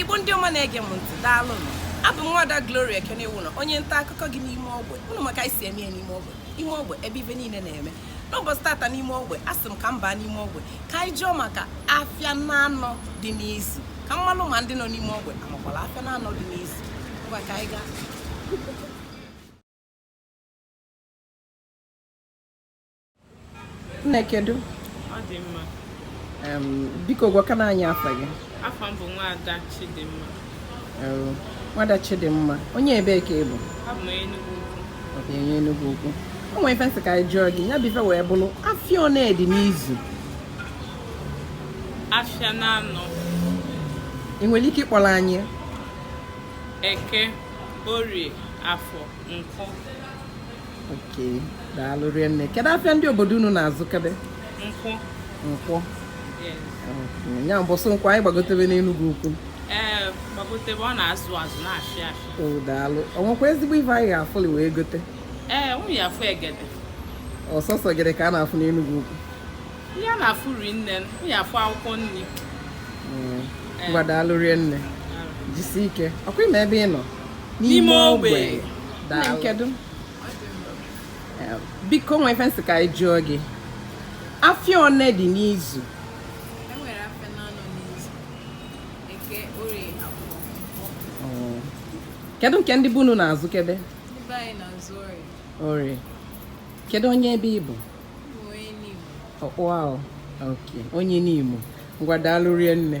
igbo ndị ọma na-ege m ntị daalụnụ abụ m nwada Gloria Ekenewụlọ onye nta akụkọ gị n'ime ogbe ụnụ ma ka anyị si eme ya n'ime ogbe ime ogbe ebe ife niile na-eme n'ụbọchị tata n'ime ogbe asị m ka m baa n'ime ogbe ka anyị jụọ maka afịa na anọ dị n'izu ka m malụ ma ndị nọ n'ime ogbe amakwala afịa na anọ dị n'izu ngwa ka anyị gaa nne kedu ọ dị mma Em, biko gwakene anyị afa gị afa m bụ nwaada chidimma Em, nwada chidimma onye ebee ka ị bụ abụ m enugwu ukwu Ọ bụ onye Enugwu ukwu o nwere ife m sị ka anyị jụọ gị ya bụ ife wee bụrụ afịa one dị n'izu afịa na anọ ị nwere ike ịkpọrọ anyị eke orie afọ nkwọ Okay, daalụ rie nne. Kedu afịa ndị obodo unu na-azụkebe? Nkwọ. Nkwọ. Nya mbọsị nkwọ anyị gbagotebe n'Enugwu ukwu. Ee, gbagotebe ọ na-azụ azụ na-achị achị. O oh, daalụ. O nwekwa ezigbo ife anyị ga-afụli wee gote? Ee, unu ya-afụ egede. Ọ sọsọ egede ka a na-afụ n'Enugwu ukwu? Ihe a na-afụ ri nne, unu ya-afụ akwụkwọ nri. Hmm. Ngwa daalụ rie nne. Jisi ike. Ọkwa ị ma ebe ị nọ? n'ime ogbe kedu biko o nwe ife m sị ka anyị jụọ gị afịa one dị n'izu oh. kedu nke ndị be unu na-azụkebe orie kedu onye ebee ị bụ onye Nimo ngwa daalụ rie nne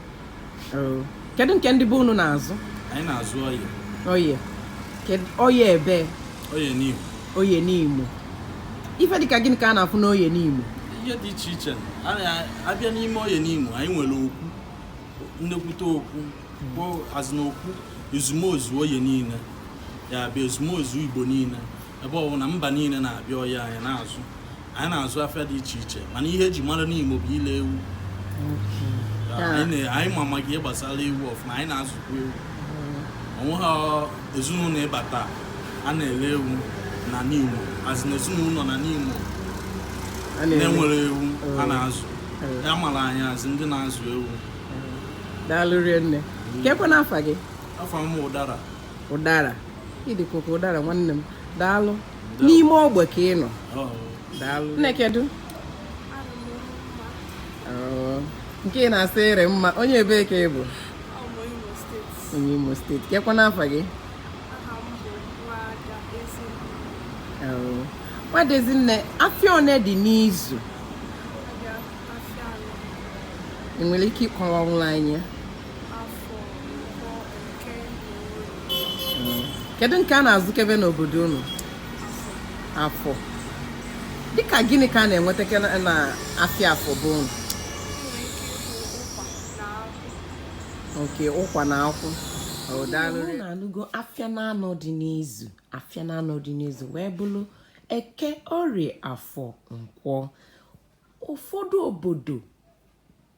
Oh. kedu nke ndị be unu na-azụ anyị na-azụ oye oye oye ebee oye Nimo oye Nimo ife dịka gịnị ka a na-afụ n'oye Nimo ihe dị iche iche a bịa n'ime oye Nimo anyị nwere okwu nnekwute okwu bụ as in okwu ezumezu oye niile ya abịa ezumezu igbo niile ebe ọ bụ na mba niile na-abịa oye anyị na-azụ anyị na-azụ afịa dị iche iche mana ihe e ji mara Nimo bụ ile ewu anyị ma maka ihe gbasara ewu ọfụma anyị na-azụkwa ewu o nweghị ezinụlọ ị bata a na-ele ewu na Nimo as in ezinụlọ na Nimo na-enwere ewu a na-azụ a mara anyị as ndị na-azụ ewu daalụ rie nne kekwanụ afa gị afa m ụdara ụdara ị dịkwa ka ụdara nwanne m daalụ n'ime ogbe ka ị nọ nne kedu oh, nke ị na-asa ere mma onye ebee ka ị bụ onye imo steeti kekwanụ afa gị nwada Ezinne oh, afịa one dị n'izu i nwere ike ịkọwanwulụ anyị kedu nke a na-azụkebe n'obodo unu afọ dịka gịnị ka a na-eweteke na afịa afọ be unu nke ụkwa na akwụ na-anụgo afịa na anọ dị n'izu afịa na anọ dị n'izu wee bụlụ eke orie afọ nkwọ ụfọdụ obodo